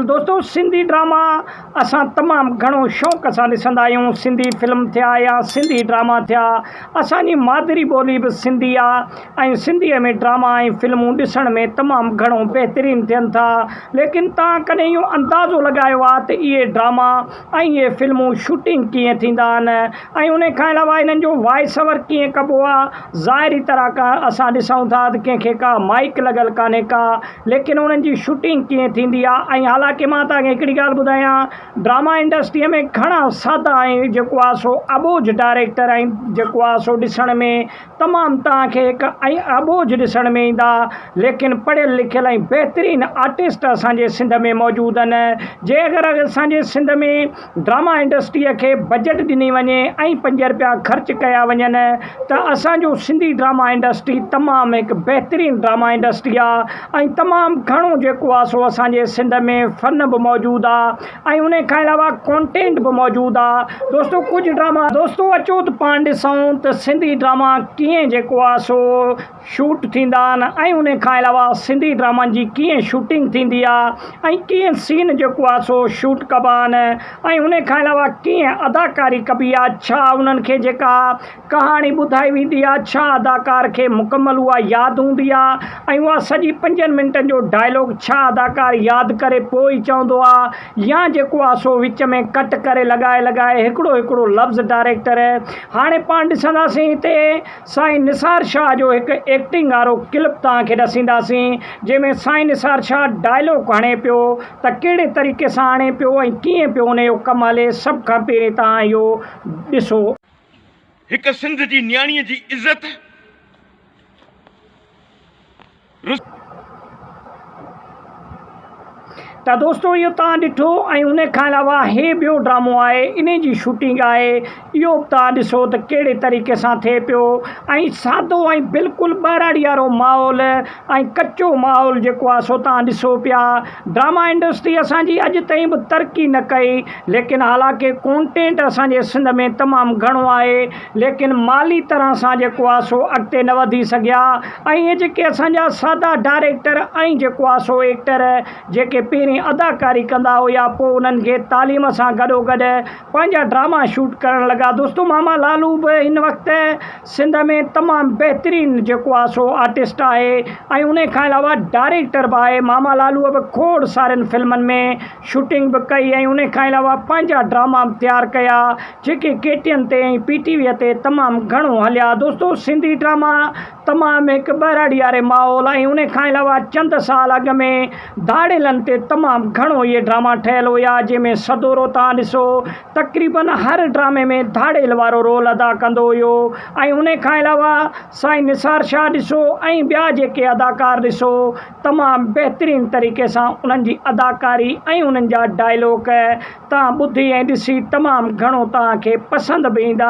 دوستو سنڌي ڊراما اسان تمام گهڻو شوق سان ڏسندا آهيون سنڌي فلم ٿيا يا سنڌي ڊراما ٿيا اسان جي مادري ٻولي به سنڌي آ ۽ سنڌي ۾ ڊراما ۽ فلمون ڏسڻ ۾ تمام گهڻو بهترين ٿين ٿا ليڪن تان ڪڏهن اهو اندازو لڳايو آ ته اهي ڊراما ۽ اهي فلمون شوٽنگ ڪيئن ٿيندا آهن ۽ انهي کان علاوه انهن جو وائس اوور ڪيئن ڪبو آ ظاهري طرح کان اسان ڏسون ٿا ته ڪنهن کي ڪا مائيڪ لڳل ڪانهي ڪا ليڪن انهن جي شوٽنگ ڪيئن ٿيندي آهي ۽ حالانڪه مان توهان کي هڪڙي ڳالهه ٻڌايان ڊراما انڊسٽريء ۾ گهڻا سادا ۽ جيڪو آهي سو اٻوجهه ڊائريڪٽر ۽ جيڪو آهي سو ڏسڻ ۾ تمام توهان کي هڪ ۽ اٻوجهه ڏسڻ ۾ ايندا ليڪن پڙهيل لکيل ۽ بهترين آرٽسٽ اسان جي سنڌ ۾ موجود آهن جي اگر اسان جي سنڌ ۾ ڊراما انڊسٽريء کي بجيٽ ڏني وڃي ۽ پنج رپيا خرچ ڪيا وڃن ته اسان جو سنڌي ڊراما انڊسٽري تمام هڪ بهترين ڊراما انڊسٽري آ ۽ تمام گهڻو جيڪو آ سو اسان جي سنڌ ۾ فن به موجود آ ۽ انهي کان علاوه ڪونٽينٽ به موجود آ دوستو ڪجهه ڊراما دوستو اچو ته پاڻ ڏسون ته سنڌي ڊراما ڪيئن جيڪو آ سو شوٽ ٿيندا آهن ۽ ان کان علاوه سنڌي ڊرامن جي ڪيئن شوٽنگ ٿيندي آهي ۽ ڪيئن سين جيڪو آهي سو شوٽ ڪبا آهن ۽ ان کان علاوه ڪيئن اداڪاري ڪبي آهي ڇا انهن کي جيڪا ڪهاڻي ٻڌائي ويندي آهي ڇا اداڪار کي مڪمل اها ياد هوندي آهي ۽ اها سڄي پنجن منٽن جو ڊائلاگ ڇا اداڪار ياد ڪري پوء ئي چوندو آهي يا جيڪو آهي سو وچ ۾ ڪٽ ڪري لڳائي لڳائي هڪڙو هڪڙو لفظ ڊائريڪٽر هاڻي پاڻ ڏسنداسين هتي سائين نثار شاهه جو هڪ ايڪٽنگ وارو ڪلپ توهان کي ڏسينداسين جنهن ۾ سائين نثار شاهه ڊائلاگ هڻي پيو ته ڪهڙي طريقي سان هڻي پيو ۽ ڪيئن پيو ان جو ڪم هلي سڀ کان پهرين توهان اهو ڏسو. هڪ سنڌ جي نياڻيء جي عزت. ته دوستو اهو توهان ڏٺو ۽ ان کان علاوه هي ٻيو ڊرامو آهي ان جي شوٽنگ آهي اهو به توهان ڏسو ته ڪهڙي طريقي سان ٿئي پيو ۽ سادو ۽ بلڪلهه ٻهراڙي وارو ماحول ۽ ڪچو ماحول جيڪو آهي سو توهان ڏسو پيا ڊراما انڊسٽري اسانجي اڄ تائين به ترقي نه ڪئي ليڪن حالانڪه ڪونٽينٽ اسانجي سنڌ ۾ تمام گهڻو آهي ليڪن مالي طرح سان جيڪو آ سو اڳتي نه وڌي سگهيا ۽ اهي جيڪي اسان جا سادا ڊائريڪٽر ۽ جيڪو آ سو ايڪٽر جيڪي پهرين اداڪاري ڪندا هيا پوء انهن کي تعليم سان گڏو گڏ پنهنجا ڊراما شوٽ ڪرڻ لڳا دوستو ماما لالو به هن وقت سنڌ ۾ تمام بهترين جيڪو آ سو آرٽسٽ آهي ۽ انهي کان علاوه ڊائريڪٽر به آهي ماما لالو به کوڙ سارين فلمن ۾ شوٽنگ به ڪئي ۽ انهي کان علاوه پنهنجا ڊراما به تيار ڪيا جيڪي ڪي ٽي اين تي ۽ پي ٽي وي تي تمام گهڻو هليا دوستو سنڌي ڊراما تمام هڪ ٻهراڙي واري ماحول ۽ ان کان علاوه چند سال اڳ ۾ ڌاڙيلن تي تمام گهڻو اهي ڊراما ٺهيل هيا جنهن ۾ سدورو تان ڏسو تقريبن هر ڊرامي ۾ ڌاڙيل وارو رول ادا ڪندو هيو ۽ ان کان علاوه سائين نثار شاهه ڏسو ۽ ٻيا جيڪي اداڪار ڏسو تمام بهترين طريقي سان انهن جي اداڪاري ۽ انهن جا ڊائلوڪ توهان ٻڌي ۽ ڏسي تمام گهڻو توهان کي پسند به ايندا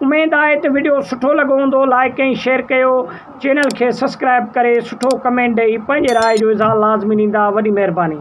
اميد آهي ته وڊيو سٺو لڳو هوندو لائيڪ ۽ شيئر ڪيو چينل کي سسڪرائب ڪري سٺو ڪمينٽ ڏئي پنهنجي راء جو اظهار لازمي ڏيندا وڏي مهرباني.